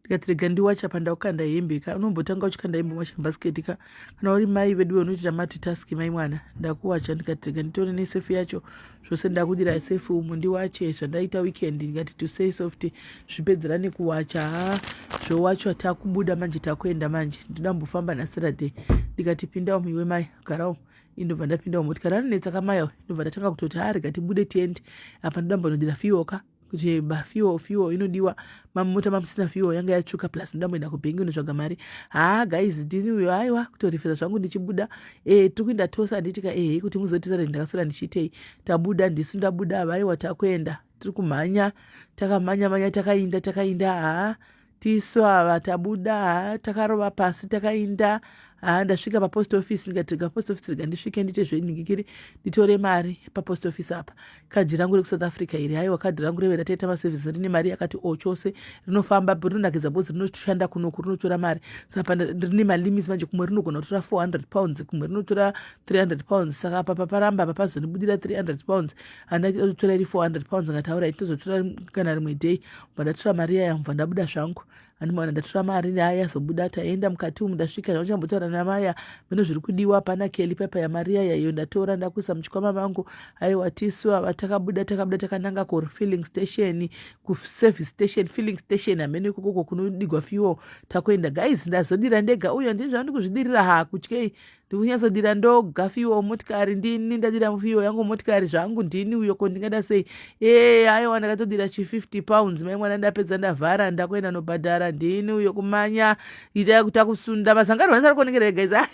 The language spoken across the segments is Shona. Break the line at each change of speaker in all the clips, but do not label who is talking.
ndikati rega ndiwacha pandakukanda hembe ka unombotanga uchikanda hembe wacha basket ka kana uri mai veduwe unoitira mati task mai mwana ndakuwacha ndikati rega nditore nesefi yacho zvose ndakudira sefi umu ndiwache zvandaita weekend ndikati to say soft zvipedzera nekuwacha ha zvowachwa takubuda manje takuenda manje ndoda mbofamba nasaturday ndikati pinda umu iwe mai gara umu indobva ndapinda umu tikati ranonetsa kamai indobva ndatanga kutoti ha rega tibude tiende apa ndoda mbonodira fiyoka kuti eh, ba fuel fuel inodiwa mamota mamusina fuel yanga yatsvuka plus ndoda mboenda kubhengi unotsvaga mari haa guys ndini uyo aiwa kutorefesa zvangu ndichibuda e eh, tiri kuenda tose handiitika ehe eh, kuti muzotizare ndakasora ndichiitei tabuda ndisu ndabuda havaiwa takuenda tiri kumhanya takamhanya mhanya takainda takainda haa tisu ava tabuda ha takarova pasi takainda ha ndasvika papost office ndikati rega post office rega ndisvike ndite zvenhingikiri nditore mari papost office apa kadhi rangu rekusouth africa iri haiwa kadhi rangu reve rataita maservice rine mari yakati o oh, chose rinofamba rinonakidza bhozi rinoshanda kunoku rinotora mari saka rine malimits manje kumwe rinogona kutora 400 pounds kumwe rinotora 300 pounds saka apa paparamba apa pazondibudira 300 pounds handatotora iri 400 pounds ngataura itozotora kana rimwe day bva ndatora mari iya yamva ndabuda zvangu andimaona ndatora mari aya azobuda taenda mukati umu ndasvika zvauchambotaura namaya mino zviri kudiwa hapana keli pepa yamari yaya iyo ndatora ndakuisa muchikwama vangu aiwa tisu ava takabuda takabuda takananga kufilling station kuservice station filling station hameno ikokoko kunodigwa fuel takuenda guys ndazodira ndega uyo ndini zvandikuzvidirira haa kutyei ndikunyazodira ndoga fiwa womotikari ndini ndadira mufiwa yangu motikari zvangu ndini uyo ko ndingada sei ee aiwa ndakatodira chi50 pounds mai mwana ndapedza ndavhara ndakuenda nobhadhara ndini uyo kumanya itai kuti akusunda mazangarwa ndisari kuonekera ega iza he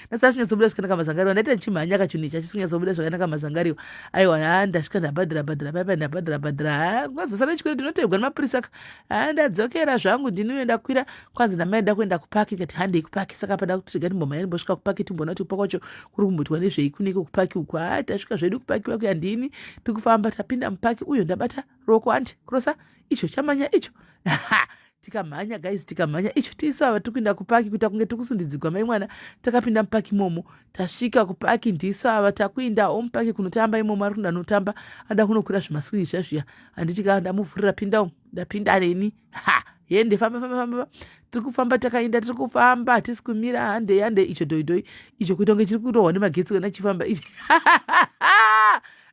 ndasara chinyatsobuda zvakanaka mazangarwa ndaita ndichimhanya kachunhu ichi achisinyatsobuda zvakanaka mazangariwa aiwa ha ndasvika ndabhadhara bhadhara paipa ndabhadhara bhadhara ha kwazosara chikwere ndinotebwa nemapurisa ka ha ndadzokera zvangu ndini uyo ndakwira kwanzi namai da kuenda kupaki kati handei kupaki saka pada kuti tiga timbomhaya timbosvika kupaki timboona kuti kupaka kwacho kuri kumboitwa nezvei kuneke kupaki uku haa tasvika zvedu kupaki wakuya ndini tikufamba tapinda mupaki uyo ndabata ruoko hanti kurosa icho chamanya icho ha tikamhanya guys tikamhanya icho tiisava tikuenda kupaki kuita kunge tikusundidzigwa mai mwana takapinda mupaki imomo tasvika kupaki ndiisava takuindawo mupaki kunotamba imomo ari kuda notamba ada kunokwira zvimaswiri zva zviya handiti ka ndamuvhurira pindawo ndapinda neni ha yende famba famba famba tiri kufamba takaenda tiri kufamba hatisi kumira hande yande icho dhoidhoi icho kuita kunge chiri kurohwa nemagetsi wena chifamba icho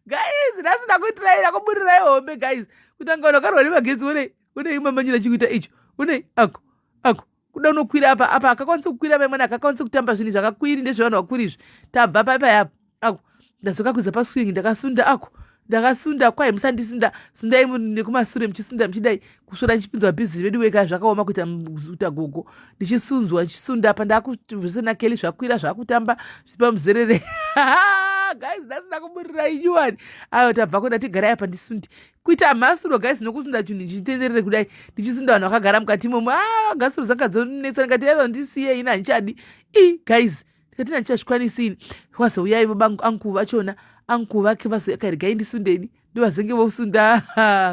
guys ndasina kuitiraira kuburirai hombe guys kutanga unokarwa nemagetsi unei unei mamanyira chikuita icho unei ako ako kuda unokwira apa apa akakwanisa kukwira vamwene akakwanisa kutamba zvinhu zvakakwiri ndezvevanhu vakuru izvi tabva paipa yapo ako ndadzoka kuza paswing ndakasunda ako ndakasunda kwai musandisunda sundai nekumasure muchisunda muchidai kusvora ndichipinzwa bhizi vedu weka zvakaoma kuita kuita gogo ndichisunzwa ndichisunda apa ndakuzvese nakeli zvakwira zvakutamba zvipa muzerere guys ndasina kuburira inyuwani ayo tabvako ndatigarai apa ndisundi kuita mhasuro guys nokusunda chinhu ndichitenderere kudai ndichisunda vanhu vakagara mukati imomo a ah, gasuro dzanga dzonetsa ndikati aiva ndisiye ini handichadi i guys ndikati ini handichazvikwanisi ini kwazouya ivo anku vachona anku vake vazouya karigai ndisundeni ndovazenge vosunda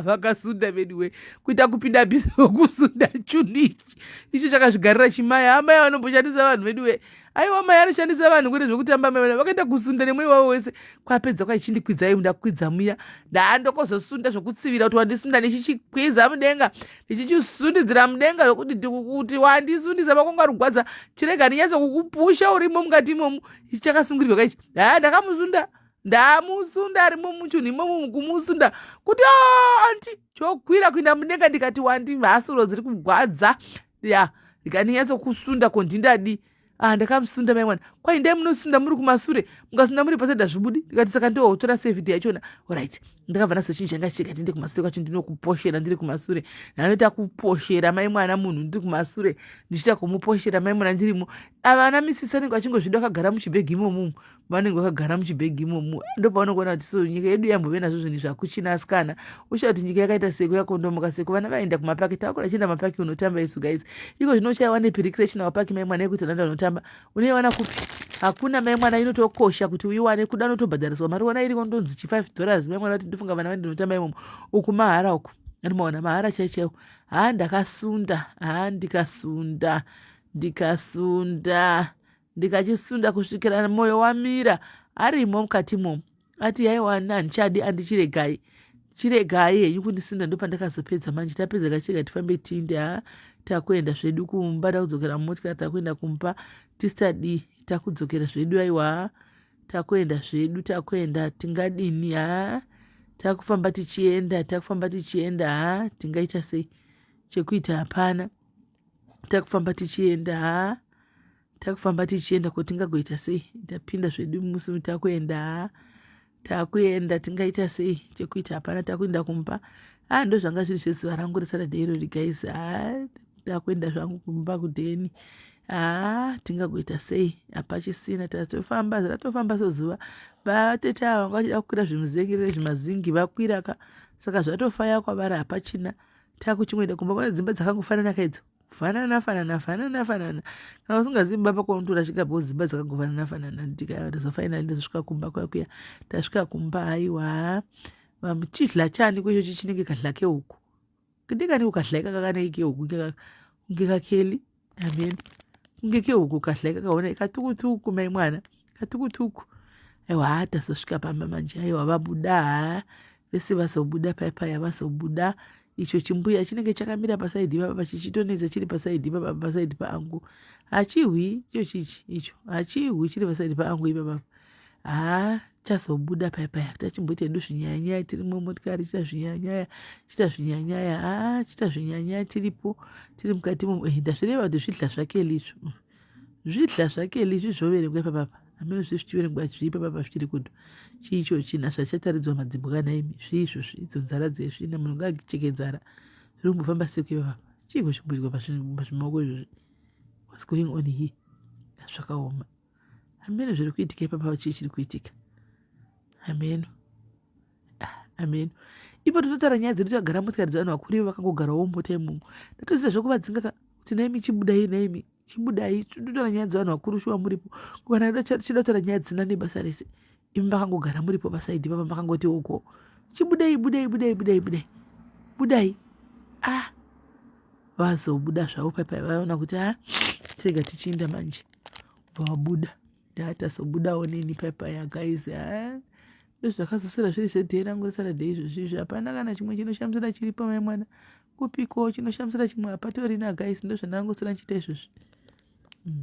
vakasunda veduwe kuita kupinda bhizi vokusunda chunhu ichi icho chakazvigarira chimaya amai vanomboshandisa vanhu veduwe aiwa mai anoshandisa vanhu kwete zvekutamba mai vana vakaenda kusunda nemweya wavo wese kwapedza kwaichindikwidza imu ndakwidza muya ndaandokozosunda zvokutsivira kuti wandisunda ndichichikwiza mudenga ndichichisundidzira mudenga zvokuti ndikukuti wandisundisa makongo arugwadza chirega ndinyatso kukupusha urimo mukati imomu ichi chakasungirirwa kaichi haa ndakamusunda ndamusunda arimo muchunhu imomo mukumusunda kuti anti chokwira kuinda mudenga ndikati wandi mhasuro dziri kugwadza ya ndikaninyatso kusunda ko ndindadi ah ndakamusunda mai mwana kwai ndai munosunda muri kumasure mukasunda muri paside hazvibudi ndikati saka ndiwo utora sevidi yachona orit ndakabva naso chinhu changa chichikati ndiri kumasure kwacho ndinokuposhera ndiri kumasure ndanoita kuposhera mai mwana munhu ndiri kumasure ndichiita kumuposhera mai mwana ndirimo avana misisi anenge vachingozvida vakagara muchibhegi imomumu vanenge vakagara muchibhegi imomo ndopavanokuona kuti so nyika yedu yambove nazvo zvinhu zvakuchina asikana usha kuti nyika yakaita seko yakondomoka seko vana vaenda kumapaki takura chienda mapaki unotamba isu guys iko zvino uchaiwa nepirikirechina wapaki mai mwana yekuti nanda unotamba unoiwana kupi hakuna mai mwana inotokosha kuti uiwane kuda notobhadhariswa mari wana iriko ndonzi chi five dollars mai mwana kuti ndofunga vana vaende unotamba imomo uku mahara uku ani maona mahara chaichaiwo haa ndakasunda haa ndikasunda ndikasunda ndikachisunda kusvikira mwoyo wamira arimo mukati mo ati yaiwa handichadi andichiregai chiregai henyu kundisunda ndopandakazopedza manje tapedza kachirega tifambe tinde ha takuenda zvedu kumba takudzokera mumotika takuenda kumba tisadi takudzokera zvedu aiwa takuenda zvedu takuenda tingadini ha takufamba tichienda takufamba tichienda ha tingaita sei chekuita hapana takufamba tichienda haa takufamba tichienda ko tingagoita sei tapinda zvedu musi takuenda haa takuenda tingaita sei chekuita hapana takuenda kumba haa ndo zvanga zviri zvezuva rangu resaturday irori guys haa takuenda zvangu kumba kudheni haa tingagoita sei hapachisina tatofamba ratofamba sozuva vatete ava vanga vachida kukwira zvimuzengerere zvimazingi vakwiraka saka zvatofaya kwavari hapachina taku chimwenda kumba kwane dzimba dzakangofanana kaidzo fanana fanana fanana fanana kana usingazivi mba pako unotora svika po dzimba dzakangofanana fanana ndikayatisa fainali ndazosvika kumba kwaya kuya tasvika kumba haiwa chidla chani kwecho chichinenge kadla keuku kidikani ukadla ikaka kaneike uku ngekakeli amen kunge kehuku kadhlai kakaona ikatukutuku mai mwana katukutuku aiwa haa tazosvika pamba manje aiwa vabuda haa vese vazobuda pai paya vazobuda icho chimbuya chinenge chakamira pasaidhi papa chichitonedza chiri pasaidhi papa pasaidhi paangu hachihwi icho chichi icho hachihwi chiri pasaidhi paangu ipapapa haa chazobuda paya paya tachimboita hedu zvinyanyaya tiri mumotikari chita zvinyanyaya chita zvinyanyaya haa chita zvinyanyaya tiripo tiri mukati mo eh, ndazvireva kuti zvidla zvake lizvi mm. zvidla zvake lizvi zvoverengwa ipapapa amene zvi zvichiverengwa zvii papapa zvichiri kudo chii icho china zvachataridzwa madzimbwana imi zvii izvozvi idzo nzara dzezvi na munhu ngaakicheke nzara zviri kumbofamba seko ipapapa chii kuzvimbuirwa pazvimaoko izvozvi what's going on here zvakaoma hameno zviri kuitika ipapa chii chiri kuitika hameno hameno ipo tototara nyaya dzedu takagara motikari dzevanhu vakuru ivo vakangogarawo mota imomo ndatoziva zvekuvatsinga ka kuti naimi chibudai naimi chibudai totora nyaya dzevanhu vakuru shuwa muripo kana chida kutaura nyaya dzisina nebasa rese imi makangogara muripo pasaidhi papa makangoti uko chibudei budei budei budei budei budai ah vazobuda zvavo paipai vaona kuti a ah, tega tichiinda manje vabuda ndatazobudawo nini paipai agaizi a ah, ndozvakazosara zviri zvedhee rangu resaradhei izvozvizvi hapana kana chimwe chinoshamisira chiri pamai mwana kupiko chinoshamisira chimwe hapatorina gaizi ndozvandangosara ndichiita izvozvi mm.